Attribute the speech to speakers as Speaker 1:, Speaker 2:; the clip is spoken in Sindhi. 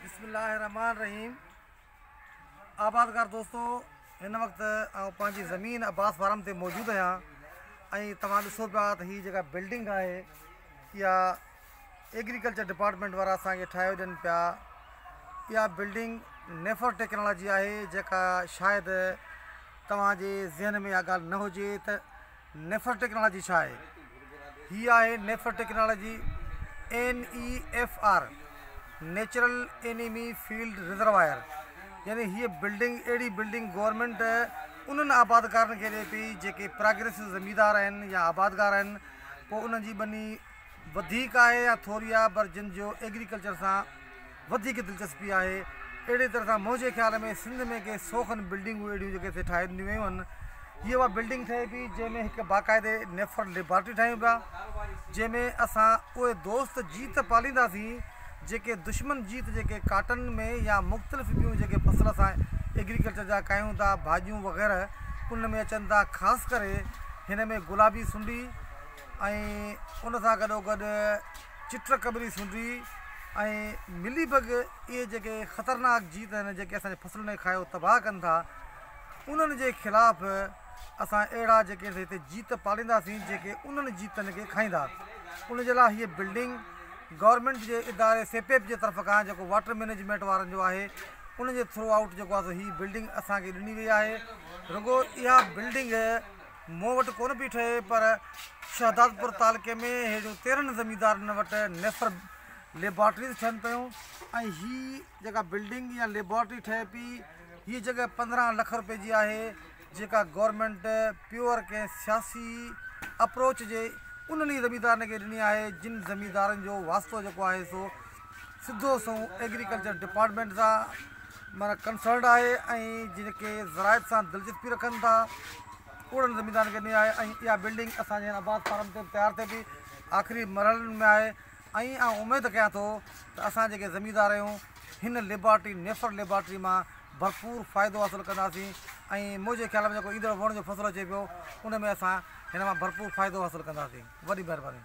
Speaker 1: بسم الله الرحمن الرحيم آبادگار دوستو هن وقت آئون پنهنجي زمين عباس فارم تي موجود آهيان ۽ توهان ڏسو پيا ته هي جيڪا بلڊنگ آهي اها ايگريڪلچر ڊپارٽمنٽ وارا اسانکي ٺاهيو ڏين پيا اها بلڊنگ نيفر ٽيڪنالاجي آهي جيڪا شايد توهان جي ذهن ۾ اها ڳالهه نه هجي ته نيفر ٽيڪنالاجي ڇا آهي؟ هي آهي NEFR technology, NEFR، natural enemy field reservoir, يعني هيء بلڊنگ اهڙي بلڊنگ گورنمينٽ انهن آبادگارن کي ڏئي پئي جيڪي پراگريسو زميندار آهن يا آبادگار آهن پوء انهن جي ٻني وڌيڪ آهي يا ٿوري آهي پر جن جو ايگريڪلچر سان وڌيڪ دلچسپي آهي. اهڙي طرح سان منهنجي خيال ۾ سنڌ ۾ ڪي سو کن بلڊنگون اهڙيون جيڪي هتي ٺاهي ڏنيون ويون هن. هيء اها بلڊنگ ٺهي پي جنهن ۾ هڪ باقاعدي نيفرل ليبارٽري ٺاهيون پيا جنهن ۾ اسان اهي دوست جيت پالينداسين جيڪي دشمن جيت جيڪي ڪاٽن ۾ يا مختلف ٻيون جيڪي فصل اسان ايگريڪلچر جا ڪاهيون ٿا ڀاڄيون وغيره ان ۾ اچن ٿا خاص ڪري هن ۾ گلابي سنڊي ۽ ان سان گڏو گڏ چٽ قبري سنڍي ۽ ملي بگ اهي جيڪي خطرناڪ جيت آهن جيڪي اسان جي فصلن کي کائي تباهه ڪن ٿا انهن جي خلاف اسان اهڙا جيڪي هتي جيت پالينداسين جيڪي انهن جيتن کي کائيندا ان جي لاء هيء بلڊنگ گورنمينٽ جي اداري سيپيپ جي طرف کان جيڪو واٽر مينجمينٽ وارن جو آهي ان جي ٿرو آئوٽ جيڪو آهي سو هي بلڊنگ اسان کي ڏني وئي آهي رڳو اها بلڊنگ مون وٽ ڪونه پئي ٺهي پر شهدادپور تعلقي ۾ ههڙين تيرهن زميندارن وٽ نيسر ليبارٽريز ٺهن پيون ۽ هي جيڪا بلڊنگ يا ليبارٽري ٺهي پئي هي جڳهه پندرهن لک روپئي جي آهي جيڪا گورنمينٽ پيور ڪنهن سياسي اپروچ جي انهن ئي زميندارن کي ڏني آهي جن زميندارن جو واسطو جيڪو آهي سو سڌو سنئون ايگريڪلچر ڊپارٽمينٽ سان معنيٰ ڪنسرنڊ آهي ۽ جيڪي زراعت سان دلچسپي رکن ٿا اهڙن زميندارن کي ڏني آهي ۽ اها بلڊنگ اسان جي هن آباد فارم تي تيار ٿئي پئي آخري مرحلن ۾ آهي ۽ آئون اميد ڪيان ٿو ته اسان جيڪي زميندار آهيون هن ليبارٽري نيفر ليبارٽري مان ڀرپور فائدو حاصل ڪنداسين ۽ منهنجي خيال ۾ جيڪو ايندڙ وڻ جو فصل اچي پيو ان ۾ اسان هن مان ڀرپور فائدو حاصل ڪنداسين وڏي مهرباني